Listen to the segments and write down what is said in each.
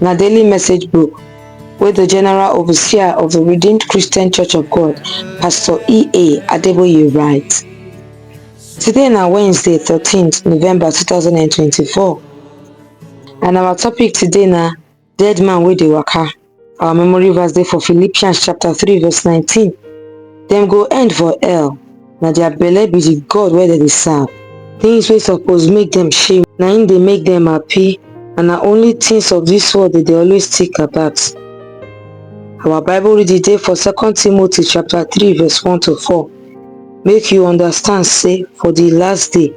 na daily message book wey the general overseer of the Redeemed Christian Church of God, Pastor E.A. Adeboye write. Today na Wednesday 13th November 2024 and our topic today na dead man wey dey waka. Our memory verse dey for Philippians chapter 3 verse 19. Dem go end for hell na their belle be the god wey dem dey serve things wey suppose make dem shame na im dey make dem happy and na only things of this world dem dey always think about our bible reading dey for second timothy chapter 3 verse 1 to 4 make you understand say for the last day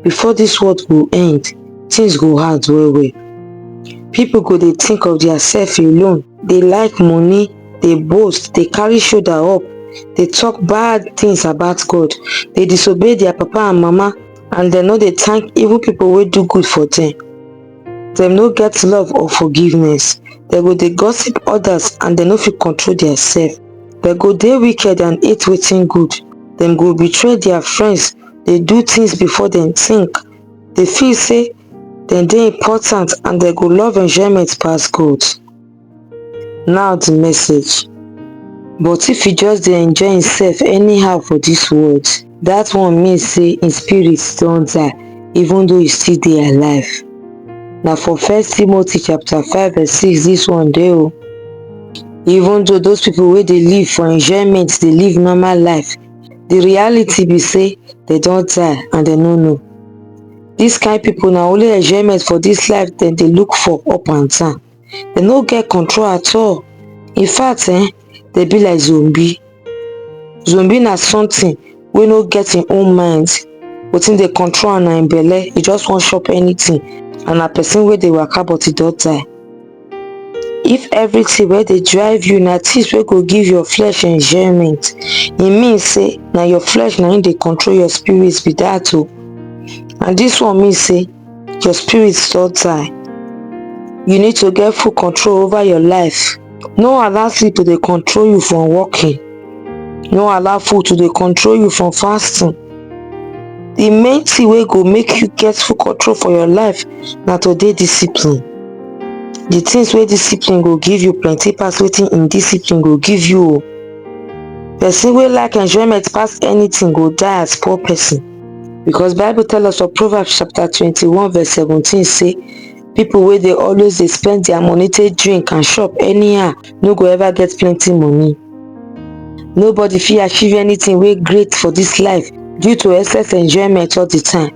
before this world go end things go hard well well people go dey think of their self alone dey like money dey boast, dey carry shoulder up, dey talk bad things about God, dey disobey their papa and mama and dem no dey thank even people wey do good for them. Dem no get love or forgiveness. Dem go dey gossip others and dem no fit control their self. Dem go dey wicked and hate wetin good. Dem go betray their friends, dey do things before dem think, dey feel say dem dey important and dem go love enjoyment pass God. Now the message. But if he just dey enjoy himself anyhow for this world, that one mean say him spirit don die even though he still dey alive. Na for first Timothy chapter 5 verse 6 this one dey o. Even though those people wey dey live for enjoyment dey live normal life, the reality be say they don die and they no know. This kind people na only enjoyment for this life dem dey look for up and down. dem no get control at all in fact um dem be like zombie zombie na something wey no get im own mind wetin dey control am na im belle e just wan chop anything and na person wey dey waka but e don die if everything wey dey drive you na things wey go give your flesh enjoyment e mean say na your flesh na im dey control your spirit be that o and this one mean say your spirit don die you need to get full control over your life no allow sleep to dey control you from working no allow food to dey control you from fasting the main thing wey go make you get full control for your life na to dey discipline the things wey discipline go give you plenty pass wetin indiscipline go give you o person wey like enjoyment pass anything go die as poor person Because Bible tell us for Proverbs chapter 21 verse 17 say, people wey dey always dey spend their money take drink and shop anyhow no go ever get plenty money. Nobody fit achieve anything wey great for this life due to excess enjoyment all the time.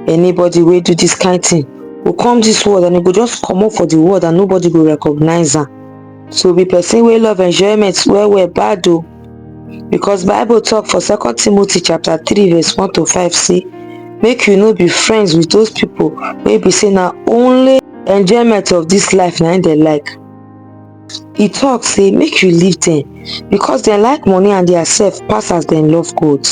Anybody wey do this kind thing go come this world and e go just comot for the world and nobody go recognize am. So be person wey love enjoyment well well bad o. Because Bible talk for 2 Timothy chapter 3 verse 1 to 5 say, make you no be friends with those people wey be say na only enjoyment of this life na im dem like. He talk say make you leave them because dem like money and their self pass as dem love God.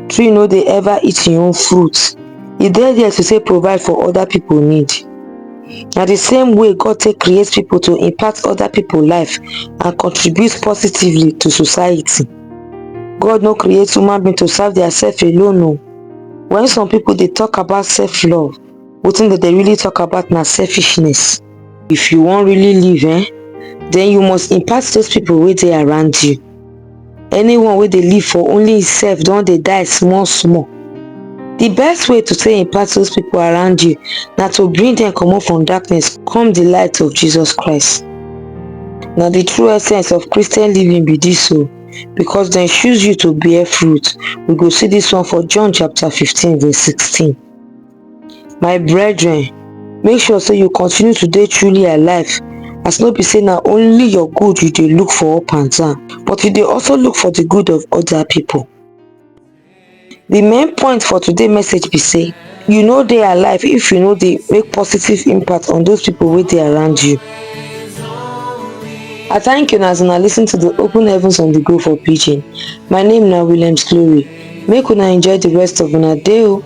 Tree no dey ever eat im own fruit. e dey there to take provide for other people need na the same way God take create people to impact other people life and contribute positively to society God no create human being to serve their self alone o when some people dey talk about self love wetin dem dey really talk about na selfishness if you wan really live eh then you must impact those people wey dey around you anyone wey dey live for only him self don dey die small small the best way to take impact those people around you na to bring them comot from darkness come the light of jesus christ na the true essence of christian living be this o because dem choose you to bear fruit we go see this one for john chapter 15 verse 16 my brethren make sure say you continue to dey truly alive as no be say na only your good you dey look for up and down but you dey also look for the good of other people the main point for today message be say you no dey alive if you no dey make positive impact on those people wey dey around you i thank you as una listen to the open heavens on the go for pidgin my name na williams glory make una enjoy the rest of una day o